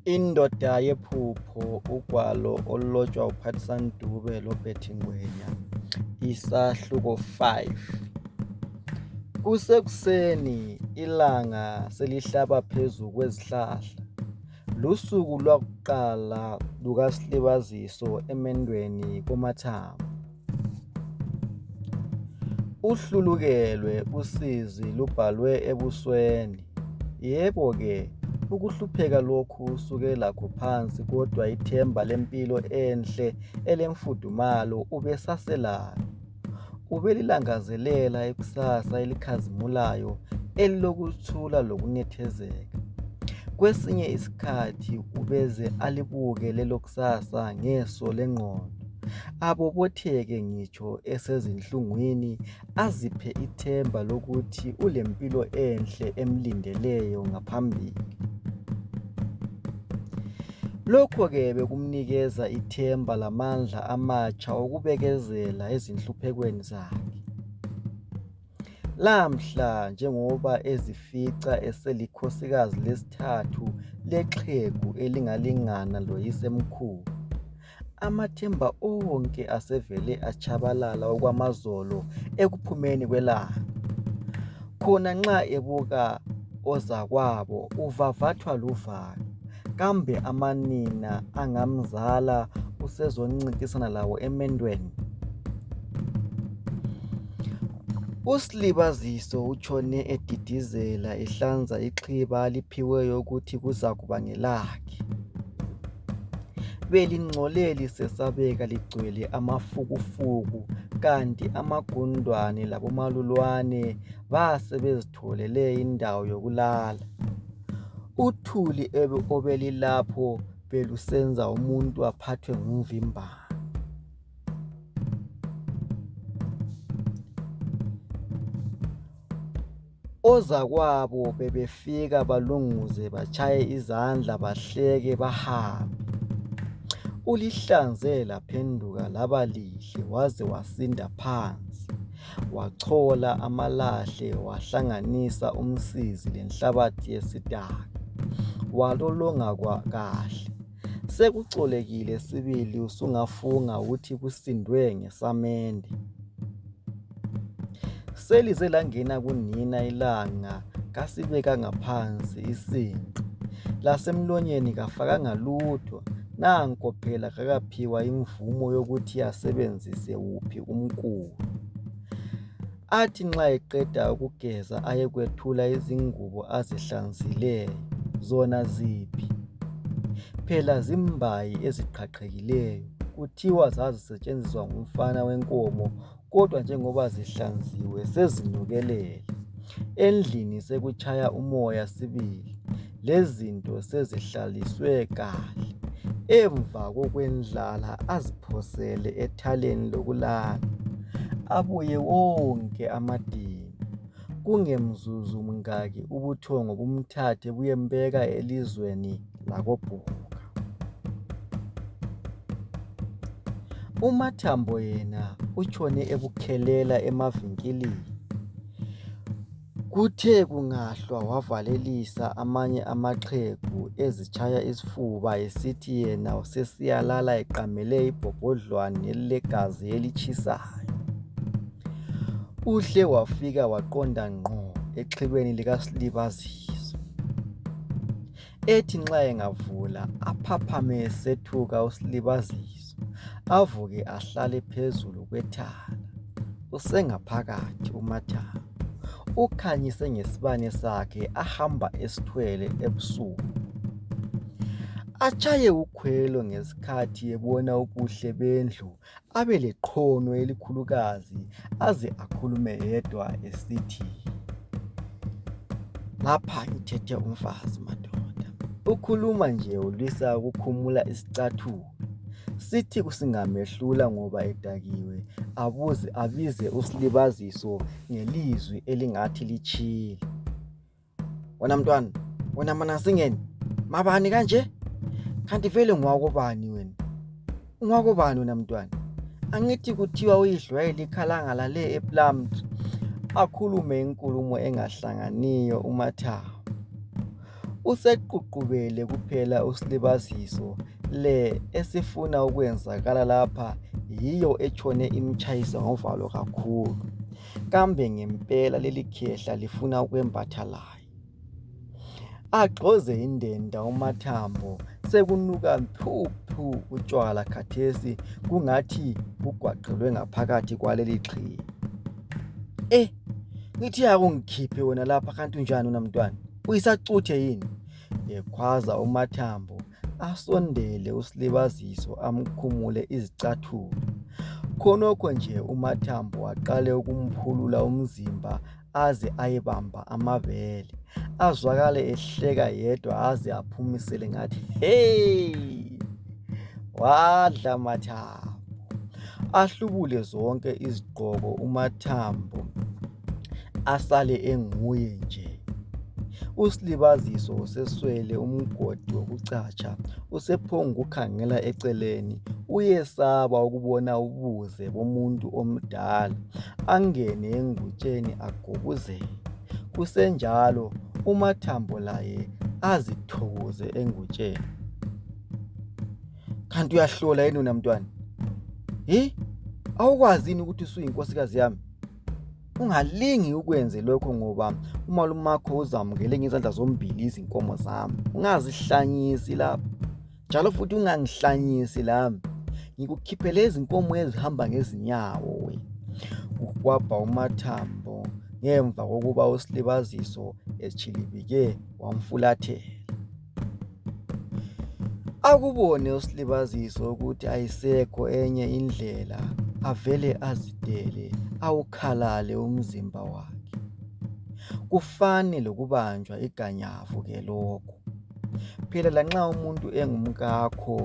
Indoda yephupho ugwalo olulotshwa uPhathisani Dube loBetty Ngwenya isahluko 5 Kusekuseni ilanga selihlaba phezu kwezihlahla lusuku lwakuqala lukasilibaziso emendweni koMathabo Uhlulukelwe usizi lubhalwe ebusweni yebo ke ukuhlupheka lokhu usuke lakho phansi kodwa ithemba lempilo enhle elemfudumalo ubesaselalo ubelilangazelela ikusasa elikhazimulayo elilokuthula lokunethezeka kwesinye isikhathi ubeze alibuke lelokusasa ngeso lengqondo. abobotheke ngitsho esezinhlungwini aziphe ithemba lokuthi ulempilo enhle emlindeleyo ngaphambili. Lokho ke bekumnikeza ithemba lamandla amatsha okubekezela ezinhluphekweni zakhe. Lamhla njengoba ezifica eselikhosikazi lesithathu lexhegu elingalingana loyisemkhulu. Amathemba onke asevele atshabalala okwamazolo ekuphumeni kwelanga. Khona nxa ebuka ozakwabo uvavathwa luvalo kambe amanina angamzala usezoncintisana labo emendweni. USlibaziso utshone edidizela ehlanza ixhiba aliphiweyo ukuthi kuzakuba ngelakhe. lesisikhathi. Belingcole lisesabeka ligcwele amafukufuku kanti amagundwane labomalulwane basebezitholele indawo yokulala. Uthuli obelilapho belusenza umuntu aphathwe ngumvimbano. Ozakwabo bebefika balunguze batshaye izandla bahleke bahambe. Ulihlanze laphenduka laba lihle waze wasinda phansi. Wachola amalahle wahlanganisa umsizi lenhlabathi yesidaka walolonga kahle. Sekuxolekile sibili usungafunga ukuthi kusindwe ngesamende. Selize langena kunina ilanga kasibekanga phansi isinqe. Lasemlonyeni kafakanga lutho nanko phela kakaphiwa imvumo yokuthi asebenzise wuphi umkhuba. athi nxa eqeda ukugeza ayekwethula izingubo azihlanzileyo. Zona ziphi? Phela zimbayi eziqhaqhekileyo. Kuthiwa zazisetshenziswa ngumfana wenkomo kodwa njengoba zihlanziwe sezinukelele. Endlini sekutshaya umoya sibili. lezinto sezihlaliswe kahle emva kokwendlala aziphosele ethaleni lokulala abuye wonke amadili kungemzuzu mngaki ubuthongo bumthathe buyembeka elizweni lakobhuka umathambo yena utshone ebukhelela emavinkilini Kuthe kungahlwa wavalelisa amanye amaxhegu ezitshaya isifuba esithi yena usesiyalala eqamele ibhobhodlwana elilegazi elitshisayo. Uhle wafika waqonda ngqo exhibeni likaSlibazizwe. ethi nxa engavula aphaphame esethuka uSlibaziso avuke ahlale phezulu kwethala usengaphakathi uMathaba ukhanyise ngesibane sakhe ahamba esithwele ebusuku atshaye ukhwelo ngesikhathi ebona ubuhle bendlu. abelekhono elikhulukazi aze akhulume yedwa esithi ngapha ngithethe umfazi madoda ukhuluma nje ulwisa ukukhumula isicathulo sithi kusingamehlula ngoba edakiwe abuze abize usilibaziso ngelizwi elingathi litshile wena mntwana wena manasingeni mabani kanje kanti vele ngwakobani wena ungwakobani wena mntwana angithi kuthiwa uyidlwayele ikhalangala le eplumtree akhulume inkulumo engahlanganiyo umathawu useququbele kuphela usilibaziso le esifuna ukwenzakala lapha yiyo etshone imtshayisa ngovalo kakhulu Kambe ngempela leli khehla lifuna ukwembatha laye? Agxoze indenda uMathambo sekunuka phu phu utshwala khathesi kungathi kugwaqelwe ngaphakathi kwaleli xhiye. Eh, ngithi akungikhiphe wena lapha kanti unjani wena mntwana? Uyisacuthe yini? Ekhwaza uMathambo asondele uSlibaziso amkhumule izicathulo. Khonokho nje uMathambo waqale ukumphulula umzimba aze ayebamba amabele. Azwakale ehleka yedwa aze aphumisele ngathi, hey! Wadla Mathambo. Ahlubule zonke izigqoko uMathambo. asale enguye nje. USlibaziso useswele umgodi wokucatsha usephongukhangela eceleni uyesaba ukubona ubuze bomuntu omdala angene engutsheni agubuzele kusenjalo uMathambo laye azithokoze engutsheni. Kanti uyahlola yini wena mntwana? Hi awukwazi yini ukuthi usuyinkosikazi yami? ungalingi ukwenze lokho ngoba umalumakho uzamukele ngezandla zombili izinkomo zami ungazihlanyisi lapho njalo futhi ungangihlanyisi lami ngikukhiphele izinkomo ezihamba ngezinyawo we kukwabha umathambo ngemva kokuba usilibaziso etshilibike wamfulathela Akubone uSlibaziso ukuthi ayisekho enye indlela avele azidele awukhalale umzimba wakhe. Kufane lokubanjwa iganyavu ke lokhu. Phela lanxa umuntu engumkakho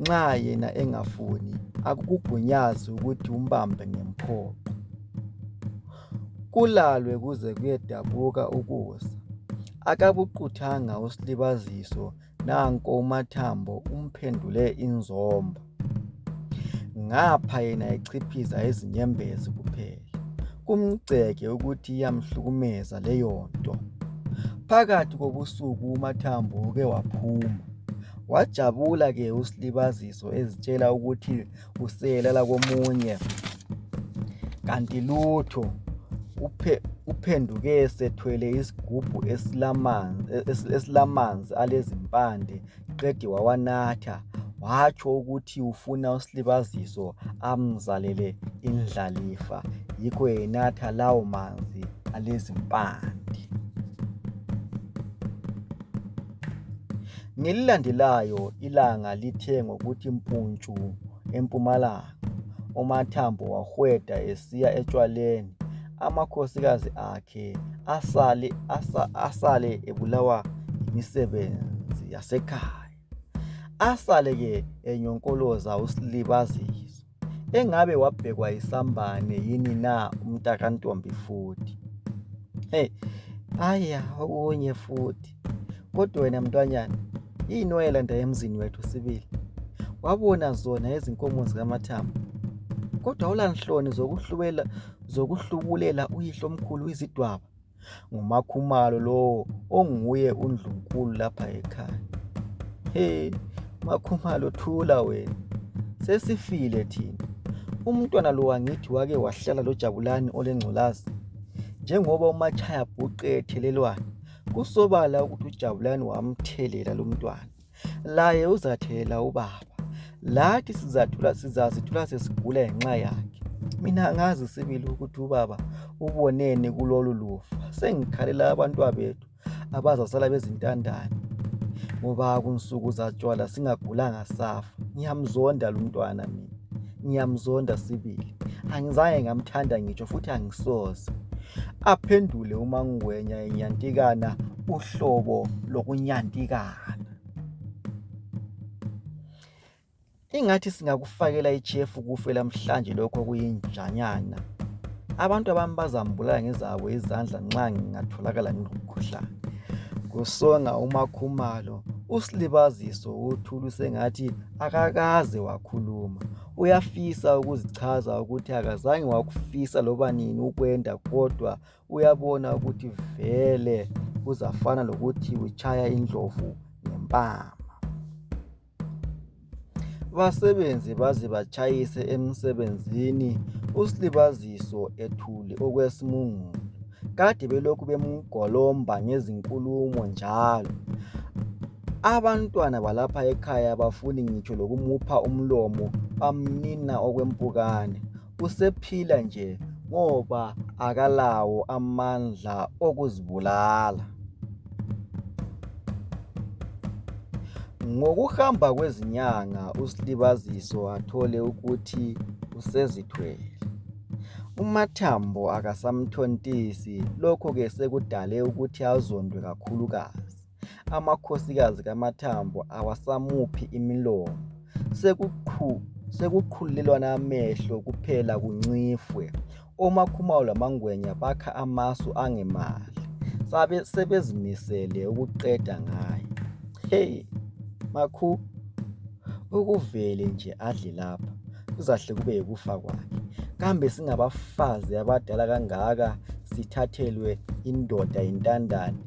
nxa yena engafuni akukugunyazi ukuthi umbambe ngomphoqo. kulalwe kuze kuyedabuka ukusa akabuquthanga uslibaziso nanko umathambo umphendule inzomba ngapha yena echiphiza izinyembezi kuphela kumgceke ukuthi iyamhlukumeza leyonto phakathi kobusuku umathambo uke waphuma wajabula ke uslibaziso ezitshela ukuthi kusele lakomunye kanti lutho uphenduke sethwele isigubhu esilamanzi alezimpande qede wawanatha watsho ukuthi ufuna usilibaziso amzalele indlalifa yikho enatha lawo manzi alezimpande Ngelilandelayo ilanga lithe ngokuthi mpuntshu empumalanga, uMathambo wahweda esiya etshwaleni amakhosikazi akhe asale, asa, asale ebulawa yimisebenzi yasekhaya. Asale-ke enyonkoloza uSlibaziso. engabe wabhekwa yisambane yini na umntakantombi futhi hey aya okunye futhi kodwa wena mntwanyana yini wayelanda emzini wethu sibili wabona zona izinkomo zikamathambo kodwa awulanhloni zokuhlubulela uyihlo omkhulu izidwaba ngumakhumalo lowo onguye undlunkulu lapha ekhaya he makhumalo thula wena sesifile thina umntwana lo wangithi wake wahlala lojabulani olengculazi njengoba umatshaya bhuqe ethelelwana kusobala ukuthi ujabulani wamthelela lumntwana laye uzathela ubaba lathi sizathula sizazithula sesigula ngenxa yakhe mina angazi sibili ukuthi ubaba uboneni kulolu lufa sengikhalela abantwabethu abazasala bezintandane ngoba kunsuku zatshwala singagulanga safa ngiyamzonda lumntwana mina ngiyamzonda sibili angizange ngamthanda ngitsho futhi angisoze aphendule umangwenya enyantikana uhlobo lokunyantikana ingathi singakufakela ichefu kufe lamhlanje lokho kuyinjanyana abantu abami bazambulala ngezabo izandla nxa ngingatholakala ngilomkhuhlane kusonga umakhumalo usilibaziso uthulu sengathi akakaze wakhuluma uyafisa ukuzichaza ukuthi akazange wakufisa loba nini ukwenda kodwa uyabona ukuthi vele kuzafana lokuthi utshaya indlovu ngempama basebenze baze batshayise emsebenzini usilibaziso ethule okwesimungulu kade belokhu bemgolomba ngezinkulumo njalo Abantwana balapha ekhaya abafuni ngitsho lokumupha umlomo bamnina okwempukane usephila nje ngoba akalawo amandla okuzibulala. Ngokuhamba kwezinyanga uSlibaziso wathole ukuthi usezithwele. Umathambo akasamthontisi lokhu ke sekudale ukuthi azondwe kakhulukazi. amakhosikazi kaMathambo awasamuphi imilomo sekuqhulelwana amehlo kuphela kuncifwe oMaKhumalo lamaNgwenya bakha amasu angemali sebezimisele ukuqeda ngaye hey makhu ukuvele nje adle lapha kuzahle kube yikufa kwakhe kambe singabafazi abadala kangaka sithathelwe indoda yintandane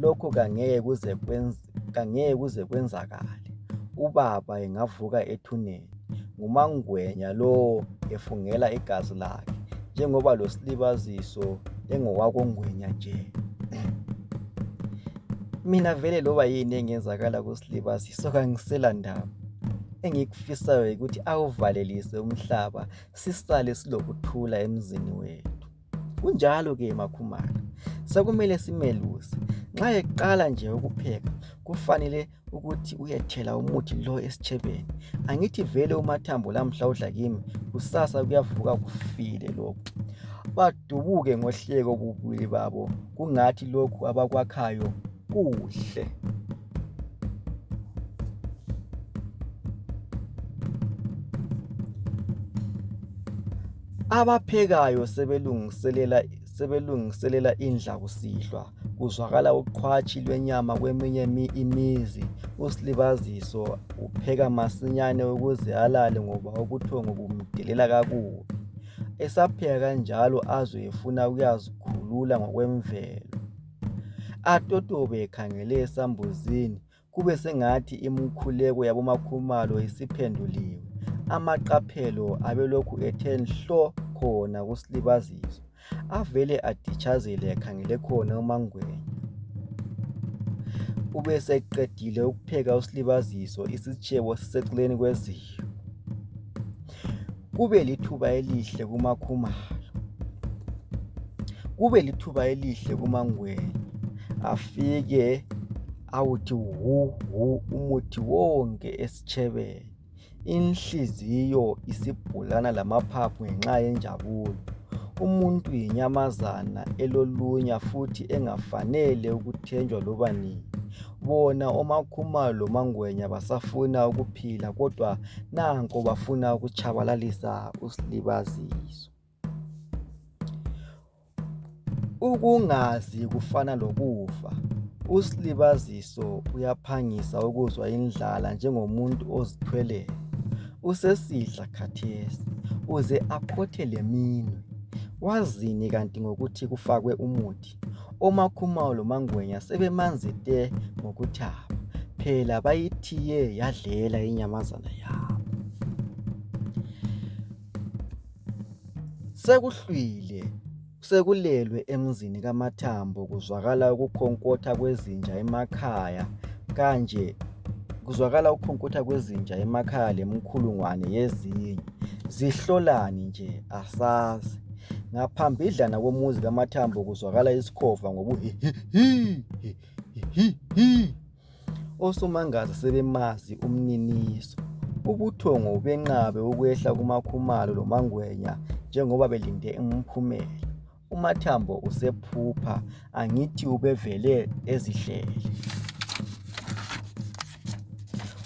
Lokhu kangeke kuze kwenz kangeke kuze kwenzakale. Ubaba engavuka ethuneni. NguMaNgwenya lowo efungela igazi lakhe njengoba losilibaziso engowakoNgwenya nje. Mina vele loba yini engenzakala kusilibaziso kangisela ndaba. Engikufisayo yikuthi awuvalelise umhlaba sisale silokuthula emzini wethu. Kunjalo-ke makhumana, sekumele simeluse. Nxa eqala nje ukupheka kufanele ukuthi uyethela umuthi lo esitshebeni. Angithi vele uMathambo lamuhla udla kimi kusasa kuyavuka kufile lokhu. Badubuke ngohleko bubili babo kungathi lokhu abakwakhayo kuhle. Abaphekayo sebelungiselela sebelungiselela indla kusihlwa kuzwakala uqhwatshi lwenyama kweminye imizi uSlibaziso upheka masinyane ukuze alale ngoba ubuthongo bumdelela kakubi esapheka kanjalo azwe efuna ukuyazikhulula ngokwemvelo atotobe ekhangele esambuzini kube sengathi imikhuleko yaboMakhumalo isiphenduliwe. Amaqaphelo abelokhu ethe nhlo khona kuSlibaziso avele aditshazele ekhangele khona uMangwenya. Ubeseqedile ukupheka uSlibaziso isitshebo siseceleni kweziko. kube lithuba elihle kumaKhumalo, kube lithuba elihle kumaNgwenya afike awuthi wu wu umuthi wonke esitshebeni inhliziyo isibhulana lamaphaphu ngenxa yenjabulo. Umuntu yinyamazana elolunya futhi engafanele ukuthenjwa loba nini. Bona omaKhumalo lomaNgwenya basafuna ukuphila kodwa nanko bafuna ukutshabalalisa uSlibaziso. Ukungazi kufana lokufa. USlibaziso uyaphangisa ukuzwa indlala njengomuntu ozithweleyo. Usesidla khathesi uze akhothe leminwe. Wazini kanti ngokuthi kufakwe umuthi? oMaKhumalo loMaNgwenya sebemanzi te ngokuthaba phela bayithiye yadlela inyamazana yabo. Sekuhlwile sekulelwe emzini kaMathambo kuzwakala ukukhonkotha kwezinja emakhaya kanje kuzwakala ukukhonkotha kwezinja emakhaya lemkhulungwane yezinye zihlolani nje asazi. Ngaphambidlana komuzi kaMathambo kuzwakala isikhova ngobuhihihihihihi. Osomangaza sebemazi umniniso. Ubuthongo ubenqabe ukwehla kumakhumalo lomangwenya njengoba belinde umphumela. UMathambo usephupha angithi ubevele ezihlele.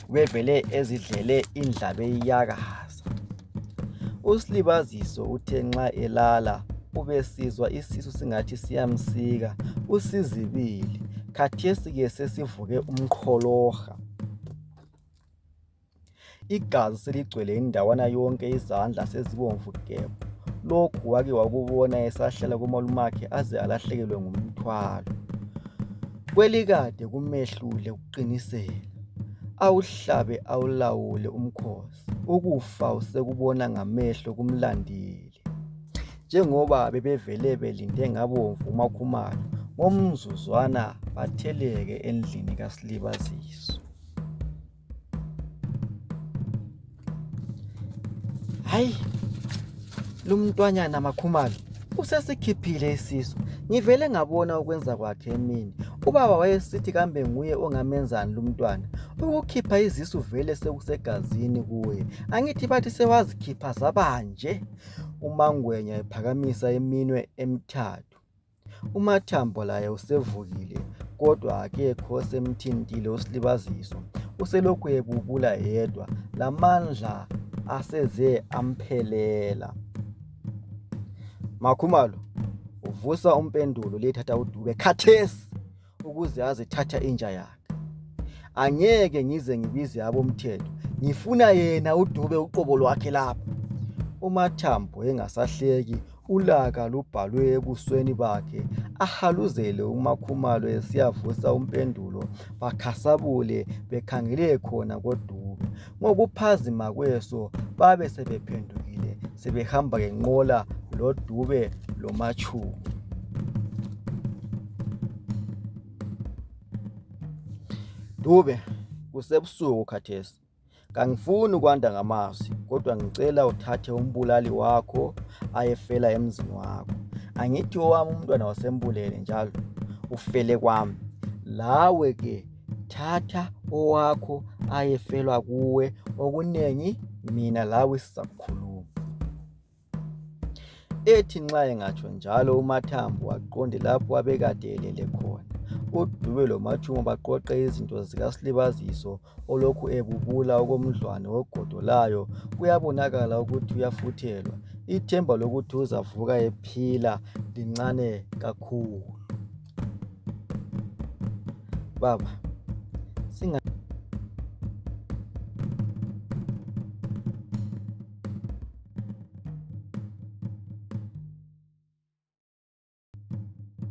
Ubevele ezidlele indlala eyiyakaza. USlibaziso uthe nxa elala ubesizwa isisu singathi siyamsika. Usizibile. Khathesi ke sesivuke umqholoha. Igazi seligcwele indawana yonke izandla sezibomvu gebhu. Lokhu wake wakubona esahlala komalumakhe aze alahlekelwe ngumthwalo. Kwelikade kumehlule kuqinisela. Awuhlabe awulawule umkhosi. Ukufa usekubona ngamehlo kumlandile. Njengoba bebevele belinde ngabomvu umakhumalo ngomzuzwana batheleke endlini kaSlibaziso. Hayi, lo mntwanyana makhumalo usesikhiphile isisu ngivele ngabona ukwenza kwakhe emini ubaba wayesithi kambe nguye ongamenzani lumntwana ukukhipha izisu vele sekusegazini kuye angithi bathi sewazikhipha zabanje umangwenya ephakamisa iminwe emithathu UMathambo laye usevukile kodwa akekho osemthintile uSlibaziso uselokhu ebubula yedwa lamandla aseze amphelela. Makhumalo vusa umpendulo liyethatha uDube khathesi. ukuze azithatha inja yakhe angeke ngize ngibize abomthetho ngifuna yena udube uqobo lwakhe lapho umathambo engasahleki ulaka lubhalwe ebusweni bakhe ahaluzele umakhumalo esiyavusa umpendulo bakhasabule bekhangele khona kodube Ngokuphazima kweso babe sebephendukile sebehamba ngenqola loDube loMatshuku. Dube, kusebusuku khathesi. Kangifuni ukwanda ngamazwi kodwa ngicela uthathe umbulali wakho ayefela emzini wakho. Angithi owami umntwana wasembulele njalo ufele kwami. Lawe ke thatha owakho ayefelwa kuwe okunengi mina lawe sizakhuluma ethi nxa engatsho njalo umathambo waqonde lapho abekade elele khona uDube loMatshumo baqoqe izinto zikaSlibaziso olokhu ebubula okomdlwane wogodo layo kuyabonakala ukuthi uyafuthelwa ithemba lokuthi uzavuka ephila lincane kakhulu Baba singa